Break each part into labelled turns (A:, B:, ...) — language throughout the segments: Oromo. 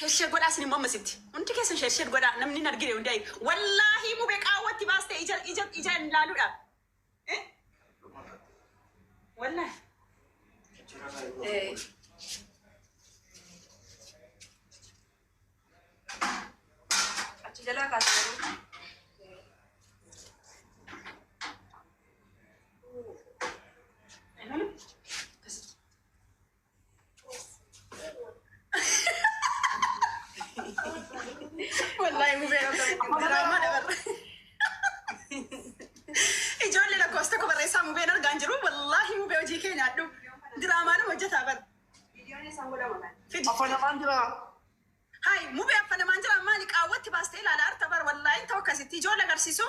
A: Sheshed godhaa isin immoo ammas itti hundi keessan sheshed godhaa namni hin argine hundi ayi wallaahii mube qaawwa itti baaste ija ija ija hin ilaaluudha Eh? wallahi
B: Eh. Achi jalaa kaasee.
A: Wallaahi mubee diraamaa dabarra. Ijoollee lakkoofsa tokko barreessaa mubeen argaan jiru. Wallaahi mubee hojii kee nyaadhu. Diraamaa nama hojjetaa bar.
B: Fidi. Afaan afaan jira.
C: Hai
A: mubee afaan namaan jira maali qaawwatti baastee ilaala arta bar wallaahi ta'u akkasitti ijoollee agarsiisu.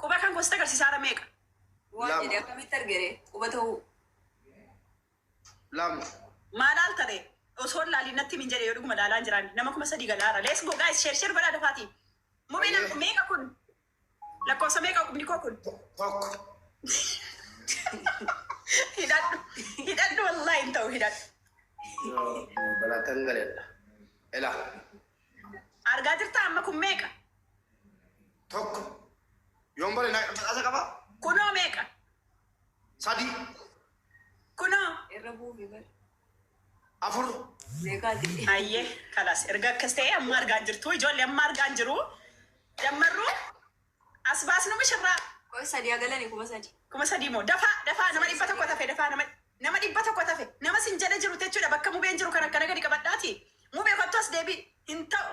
A: Quba kan koo sitti agarsiisa hara meeqa. Waan Lama. jedhe
B: akkamitti arge ree quba ta'uu.
C: Lama. Maa laalta ree?
A: Osoo hin laaliin natti himi hin jedhe yoo dhuguma laalaan jiraanne. Nama kuma sadii gala hara. Let's go guys share share godhaa dafaatii. Mubee Ayyee. nam- meeqa kun? Lakkoofsa meeqa qubni koo kun? Tokko. Hidhadhu. Hidhadhu wallahi hin ta'u hidhadhu.
C: Balatan galedha. Ela.
A: Argaa jirtaa amma kun meeqa?
C: tokko yoon bare na badhaasa qaba Kunoo meeqa? sadii
A: Kunoo. Irra buufi
B: bar.
C: afur Meeqaati?
B: Ayyee
A: kalas erga akkas ta'e amma argaan jirtu ijoollee amma argaan jiru dammarru as baasnu mishirraa Qoy sadii agalani
B: kuma sadii. kuma sadii moo dafaa
A: dafaa nama dhibba tokko tafe dafaa nama nama dhibba tokko tafe nama sin jala jiru jechuudha bakka mubeen jiru kan akkana gadi qabadhaati mubee kottu as deebi hin ta'u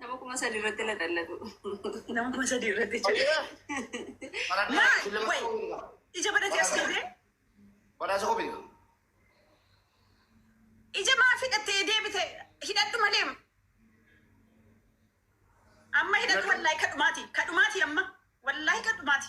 A: Nama kuma
B: sadi irratti laxallatu. Nama kuma
A: sadi irratti jedhe. Maal? Wayi. Ija badhate as deebee. Badhaasa
C: kofi.
A: Ija maaf hidhattee deebite hidhadhu malee. Amma hidhadhu wallaahi kadhumaati. Kadhumaati amma. Wallaahi kadhumaati.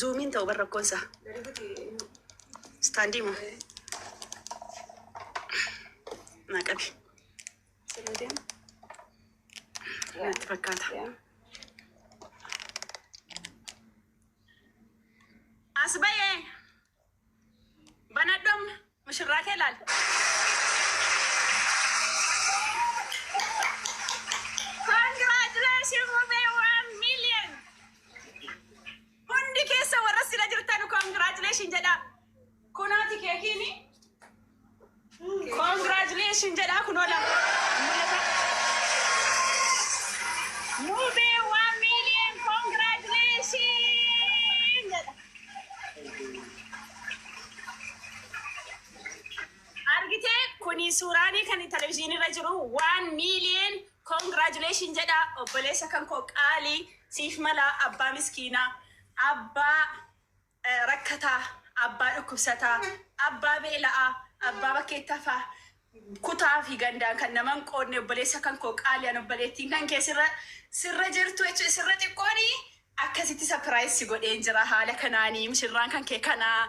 A: Zuumiin ta'u bar rakkoon isaa. Istaandii moo naa qabi. Natti fakkaata. As ba'ee. Banadhu amma mushurraa kee laali. Congratulations Mube one million. Hundi keessa warra sila jirtan congratulations jedha. Kunooti keekiini. Congratulations jedhaa kunoo lama. Mul'ata. Mubee waan miiliyoon congratulations jedha. Argitee kuni suuraanii kan televizyiinii irra jiru waan miiliyoon congratulations jedha obboleessa kan koo qaalii siif mala abbaa miskiinaa abbaa rakkataa, abbaa dhukkubsataa, abbaa beela'aa, abbaa bakkeetti hafaa, kutaa fi gandaan kan nama hin qoodne obboleessa kan koo qaali an obboleettiin kan kee sirra sirra jirtu jechuun sirra xiqqooni akkasitti sapiraayiz si godheen jira haala kanaanii mishirraan kan kee kanaa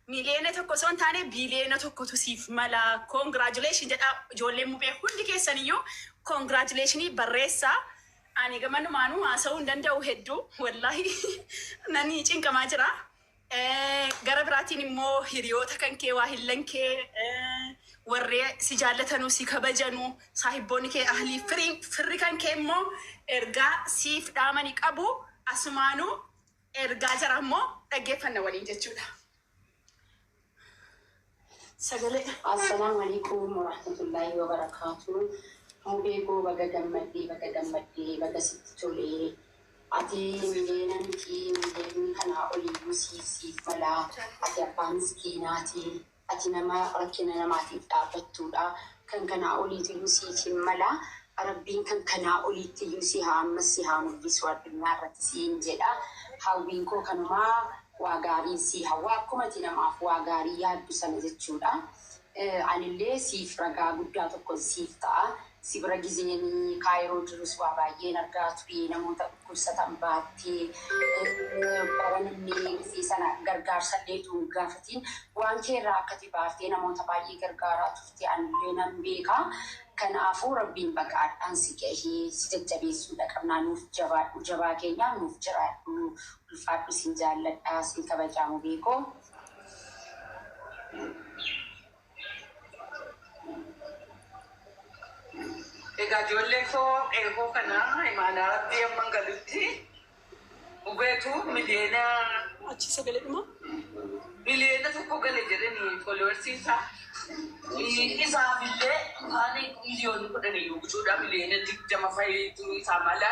A: miliyoona tokko osoo hin taane biliyoona tokkotu siif mala koongiraajuleeshin jedha ijoolleen mubee hundi keessaniyyuu koongiraajuleeshinii barreessaa Ani gamanumaanuu haasa'uu hin danda'u hedduu wallahi nani cinqamaa jira. Gara biraatiin immoo hiriyoota kan kee waahillan kee warri si jaallatanuu si kabajanu saahibboonni kee ahlii firii firri kan kee immoo ergaa siif dhaamani qabu asumaanuu ergaa jara immoo dhaggeeffanna waliin jechuudha. Sagalee. Asalamu
D: aleykum warahmatullahi wabarakatu mubee koo baga gammaddee baga gammaddee baga sitti tolee ati miliyeena mitii miliyeeni kanaa oliyyuu sii siif malaa ati abbaa miskiinaati ati nama rakkina namaatiif dhaabbattuudha Kan kanaa oliituyuu siif hin mala rabbiin kan kanaa oliittiyuu si haa ammas si haa mul'isuu addunyaa irratti siin jedha hawwiin koo kanuma waa gaariin sii hawwa akkuma ati namaaf waa gaarii yaaddu sana jechuudha anillee siif ragaa guddaa tokkon siif ta'a si bira gizeen kaayiroo jirus waa baay'een argaa ture namoota dhukkubsatan baattee bara namni dhufee sana gargaarsallee utuu hin gaafatiin waan kee irraa akkati baartee namoota baay'ee gargaaraa turte anillee nan beeka. Kanaafuu Rabbiin baga ardhaan si gahe si jajjabeessuudha qabnaa nuuf jabaadhu jabaa keenyaa nuuf jiraadhu ulfaadhu sin jaalladha sin kabajaa mubee koo.
E: Egaa ijoollee koo qeequu kana imaanaa rabbii amman galutti dhugeetu miliyoona
A: Achi sagalee dhuma. miliyoona
E: tokko gale jedhani followers isaa isaaf illee taane miliyoonni kudhan iyyuu gutuudhaa miliyoona digdama fa'iitu isaa mala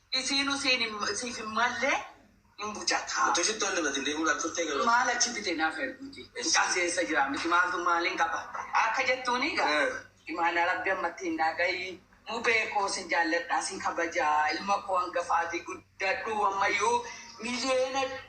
E: Isiinu siin siif hin malle hin bujataa. Utuu shittoo hin dibatin deemuu dhaaf turtee garuu. Maal achi bite naaf erguuti. Mucaan si eessa jira miti maaltu maaliin qaba akka jettuuni egaa imaanaa rabbi ammatti hin naa gahi mubee koo sin jaalladhaa sin kabajaa ilma koo hangafaatii guddadhuu ammayyuu miliyeena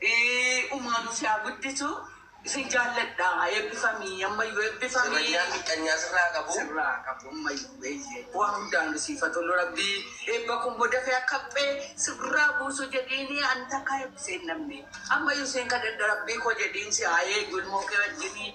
E: Umaanu si haa guddisu isin jaalladha eebbifami ammayyu eebbifami. Sirrayyaan miqqanyaa sirraa haa qabu. Sirraa haa qabu ammayyu eeyyee waa hundaanu siif haa tolu rabbii eebba kun immoo dafee akka haphee sirraa buusu jedhiini ani takkaa eebbisee hin dhabne ammayyu siin kadhadha rabbii koo jedhiin si haa eegu ilmoo kee wajjini.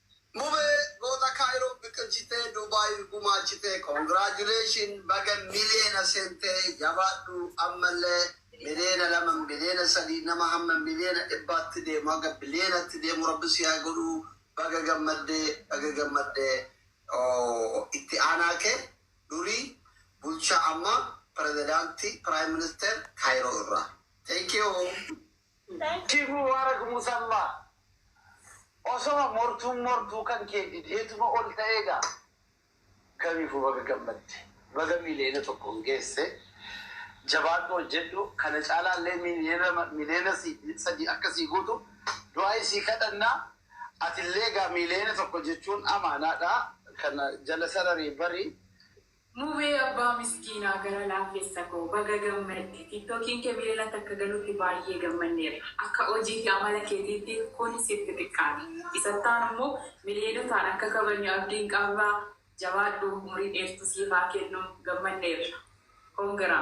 E: Mubee
C: goota Cairo biqilchitee Dubai gumaachitee congratulation baga miliyeena seente jabaadhu ammallee miliyeena lama miliyeena sadii nama hamma miliyeena dhibbaatti deemu haga biliyeenatti deemu rabbi si haa godhu baga gammadde baga gammadde itti aanaa kee durii bulchaa ammaa pirezidaantii prime minister Cairo irraa thank you. Namichi
E: Mubarak Musammaa osoma mortuun mortuu kan kee dideetuma ol ta'ee gaa. Kamiifuu baga gammadde. Baga miiliyoona tokkoon geesse. Jabaadhu hojjedhu. Kana caalaallee miiliyoona sadii akka sii guutu du'aa'ii sii kadhanna. Atillee egaa miiliyoona tokko jechuun amaanaadha. Kana jala sararii bari. Mubee
F: abbaa miskiinaa gara laafessa koo baga gammadde tiktokiin kee miliyoonatti akka galutti baayyee gammanneerra akka hojii fi amala keetiitti kun sitti xiqqaate isattaanu immoo miliyoonotaan akka kabajnu abdiin qabra jabaadhu umurii dheertu siif haa kennu gammanneerra congra.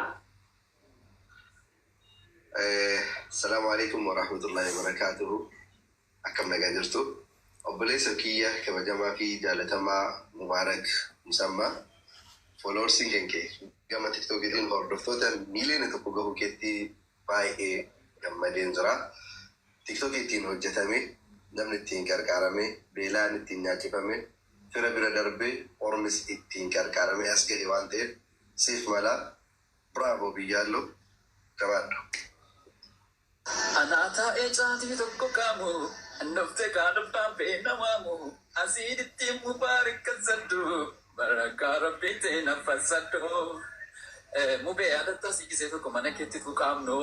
F: Asalamu
G: aleykum warahmatullahi wabarakatuhu Akkam nagaa jirtu obboleessa kiyya kabajamaa fi jaalatamaa Mubarak Musamma Followers kan kee gama tiktok tiin hordoftoota miiliyoona tokko gahuu keetti baay'ee gammadeen jira tiktok ittiin hojjatamee namni ittiin qarqaaramee beelaan ittiin nyaachifame fira bira darbee ormis ittiin qarqaaramee as gahe waan ta'eef siif mala bravo biyyaalloo jabaadhu.
H: Anaa taa'ee caatii tokko qaamu Hin dhufte kaa dhubbaan bee na waamu Asiidittii mubaarik kan saddu Barakaa rabbii tee na fassadhu Eh mubee yaadattaa si gisee tokko mana keetti fuqaamnu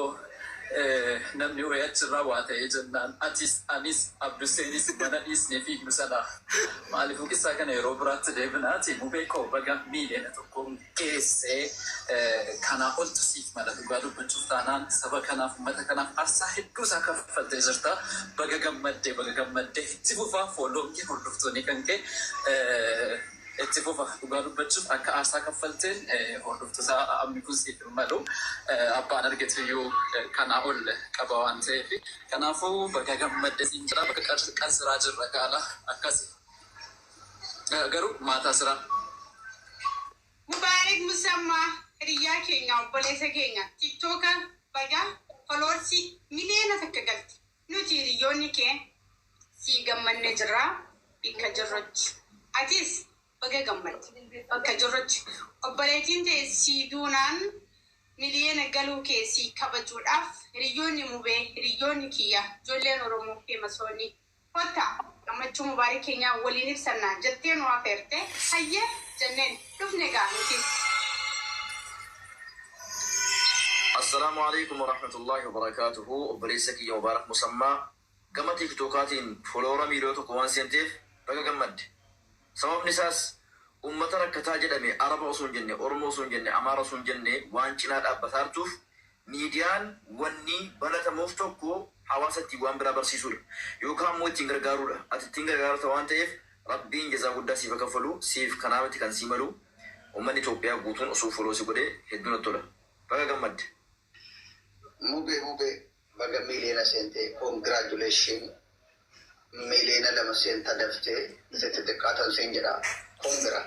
H: Eh namni wayii achirraa waa ta'ee jennaan atis anis abduseenis mana dhiisnee fiignu sana Maaliifuu qissaa kana yeroo biraatti deebinaati mubee koo baga miiliyoona tokkoomne. geesse kanaa oltu siif mala dhugaa dubbachuuf taanaan saba kanaaf uummata kanaaf arsaa hedduu isaa kaffaltee jirta baga gammadde baga gammadde itti fufaa following kee hordoftoonii kan kee itti fufa dhugaa dubbachuuf akka aarsaa kaffalteen hordoftoota ammi kun siif hin malu abbaan argetu iyyuu kanaa ol qaba waan ta'eef kanaafuu baga gammadde siin jira bakka qansiraa jirra gaala akkasi Garuu maataa siraa. Mubarik
I: Musamma hiriyyaa keenya obboleessa keenya tiktoka baga followers miliyoona takka galte nuti hiriyyoonni kee sii gammanne jirra bikka jirrutti atis baga gammadde bakka jirrutti obboleettiin tee sii duunaan miliyoona galuu kee sii kabajuudhaaf hiriyyoonni mubee hiriyyoonni kiyya ijoolleen oromoo feemasoonni Kottaa, gammachuu Mubaarik keenyaa waliin ibsannaa jettee nu afeerte. Hayyee! jenneen. Dhufne egaa nutis.
J: Assalaamu Aleykum Warahmatullaahi Wabarakaatuhu Obboleessa kiyya Mubaarak Musammaa gama Tiiktookaatiin Foolowara miiliyoona tokko waan seenteef baga gammadde. Sababni isaas Ummata rakkataa jedhame Araba osoo hin jenne, Oromoo osoo hin jenne, Amaara osoo hin jenne waan cinaa dhaabbataartuuf Miidiyaan wanni balatamuuf tokko hawaasa ittiin waan biraa barsiisuudha. Yookaa ammoo ittiin gargaaruudha. Ati ittiin gargaarta waan ta'eef Rabbiin jazaa guddaa siif ha kaffalu, siif kanaa miti kan sii malu ummanni Itoophiyaa guutuun osoo follow si godhee hedduu natti tola. Baga gammadde. Mube mube
C: baga miliyoona seente congratulations. Miliyoona lama seenta daftee isa xixiqqaa tan siin jedha kun bira.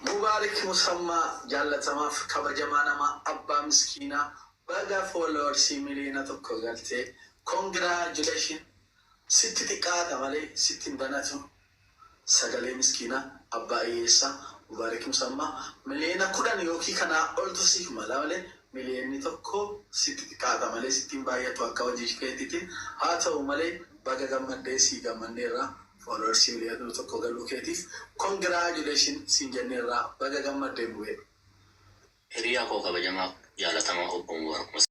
K: Mubarik Musammaa jaallatamaaf kabajamaa namaa abbaa miskiinaa baga followers miliyoona tokko galtee congratulations sitti xiqqaata malee sitti hin banatu. Sagalee miskiina abbaa iyyeessa Mubarik Musamma miliyoona kudhan yookii kanaa oltu siif mala male miliyoonni tokko sitti xiqaata malee sitti hin baayyatu akka hojii keetitin haa ta'u male baga gammaddee sii gammanneerra followers miliyoona tokko galuu keetiif congratulation siin jenneerra baga gammadde
L: mubee. Hiriyaa koo kabajamaa jaalatamaa
K: obbo
L: Mubarak Musamma.